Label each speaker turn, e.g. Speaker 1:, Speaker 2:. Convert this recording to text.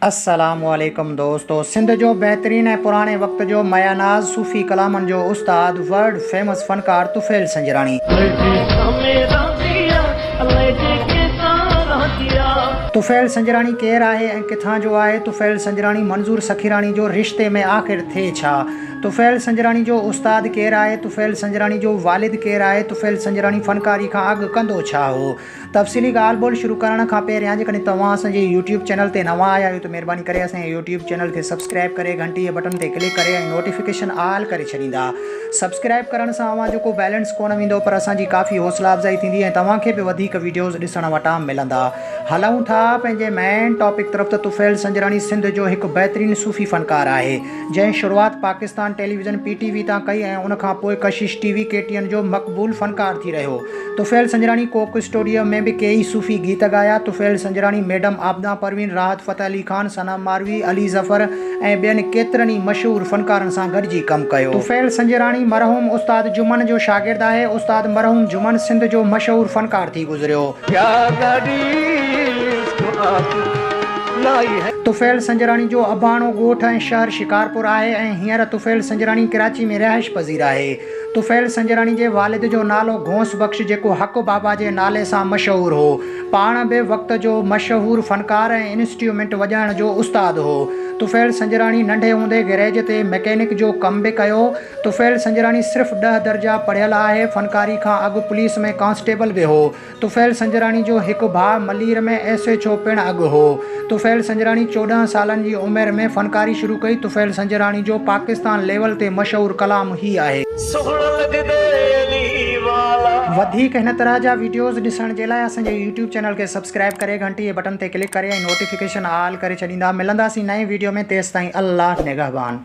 Speaker 1: السلام عليڪم دوستو سنڌ جو بهترين ۽ پراڻي وقت جو ميا ناز صوفي ڪلامن جو استاد ورلڊ فيمس فنڪار طفيل سنجراڻي. طفيل سنجراڻي ڪير آهي ۽ ڪٿان جو آهي طفيل سنجراڻي منظور سخيراڻي جو رشتي ۾ آخر ٿئي ڇا طفيل سنجراڻي جو استاد ڪير آهي طفيل سنجراڻي جو والد ڪير آهي طفيل سنجراڻي فنڪاري کان اڳ ڪندو ڇا هو. تفصيلي ڳالهه ٻولهه شروع ڪرڻ کان پهريان جيڪڏهن توهان اسان جي يوٽيوب چينل تي نوان آيا آهيو ته مهرباني ڪري اسان جي يوٽيوب چينل کي سبسڪرائب ڪري گهنٽيء بٽن تي ڪلڪ ڪري ۽ نوٽيفڪيشن آل ڪري ڇڏيندا. سبسڪرائب ڪرڻ سان اوهان جو ڪو بيلنس ڪونه ويندو پر اسان جي ڪافي حوصلا افزائي ٿيندي ۽ توهان کي به وڌيڪ وڊيوز ڏسڻ وٽان ملندا. هلئون ٿا پنهنجي مين ٽاپڪ طرف ته طفيل سنجراڻي سنڌ جو هڪ بهترين صوفي فنڪار آهي جنهن شروعات Pakistan television P T V تان ڪئي ۽ ان کان پوء Kashish T V K T N جو مقبول فنڪار ٿي رهيو. طفيل سنجراڻي ڪوڪ اسٽوڊيو ۾ به ڪيئي صوفي گيت ڳايا. طفيل سنجراڻي، ميڊم عابده پروين، راحت فتح علي خان، ثنا ماروي، علي ظفر ۽ ٻين ڪيترن ئي مشهور فنڪارن سان گڏجي ڪم ڪيو. طفيل سنجراڻي مرحوم استاد جمن جو شاگرد آهي. استاد مرحوم جمن سنڌ جو مشهور فنڪار ٿي گذريو. طفيل سنجراڻي جو اباڻو ڳوٺ ۽ شهر شڪارپور آهي ۽ هينئر طفيل سنجراڻي ڪراچي ۾ رهائش پذير آهي. طفيل سنجراڻي جي والد جو نالو غوث بخش جيڪو حق بابا جي نالي سان مشهور هو. پاڻ به وقت جو مشهور فنڪار ۽ انسٽيومينٽ وڄائڻ جو استاد هو. طفيل سنجراڻي ننڍي هوندي گئريج تي مڪينڪ جو ڪم به ڪيو. طفيل سنجراڻي صرف ڏهه درجا پڙهيل آهي. فنڪاري کان اڳ پوليس ۾ ڪانسٽيبل به هو. طفيل سنجراڻي جو هڪ ڀاء ملير ۾ ايس ايڇ او پڻ اڳ هو. طفيل سنجراڻي چوڏهن سالن جي عمر ۾ فنڪاري شروع ڪئي. طفيل سنجراڻي جو پاڪستان ليول تي مشهور ڪلام هي آهي. سهڻا لڳدي علي والا. وڌيڪ هن طرح جا وڊيوز ڏسڻ جي لاء اسان جي يوٽيوب چينل کي سبسڪرائب ڪري گهنٽي جي بٽن تي ڪلڪ ڪري ۽ نوٽيفڪيشن آل ڪري ڇڏيندا. ملنداسين نئين وڊيو ۾ تيستائين الله نگهبان.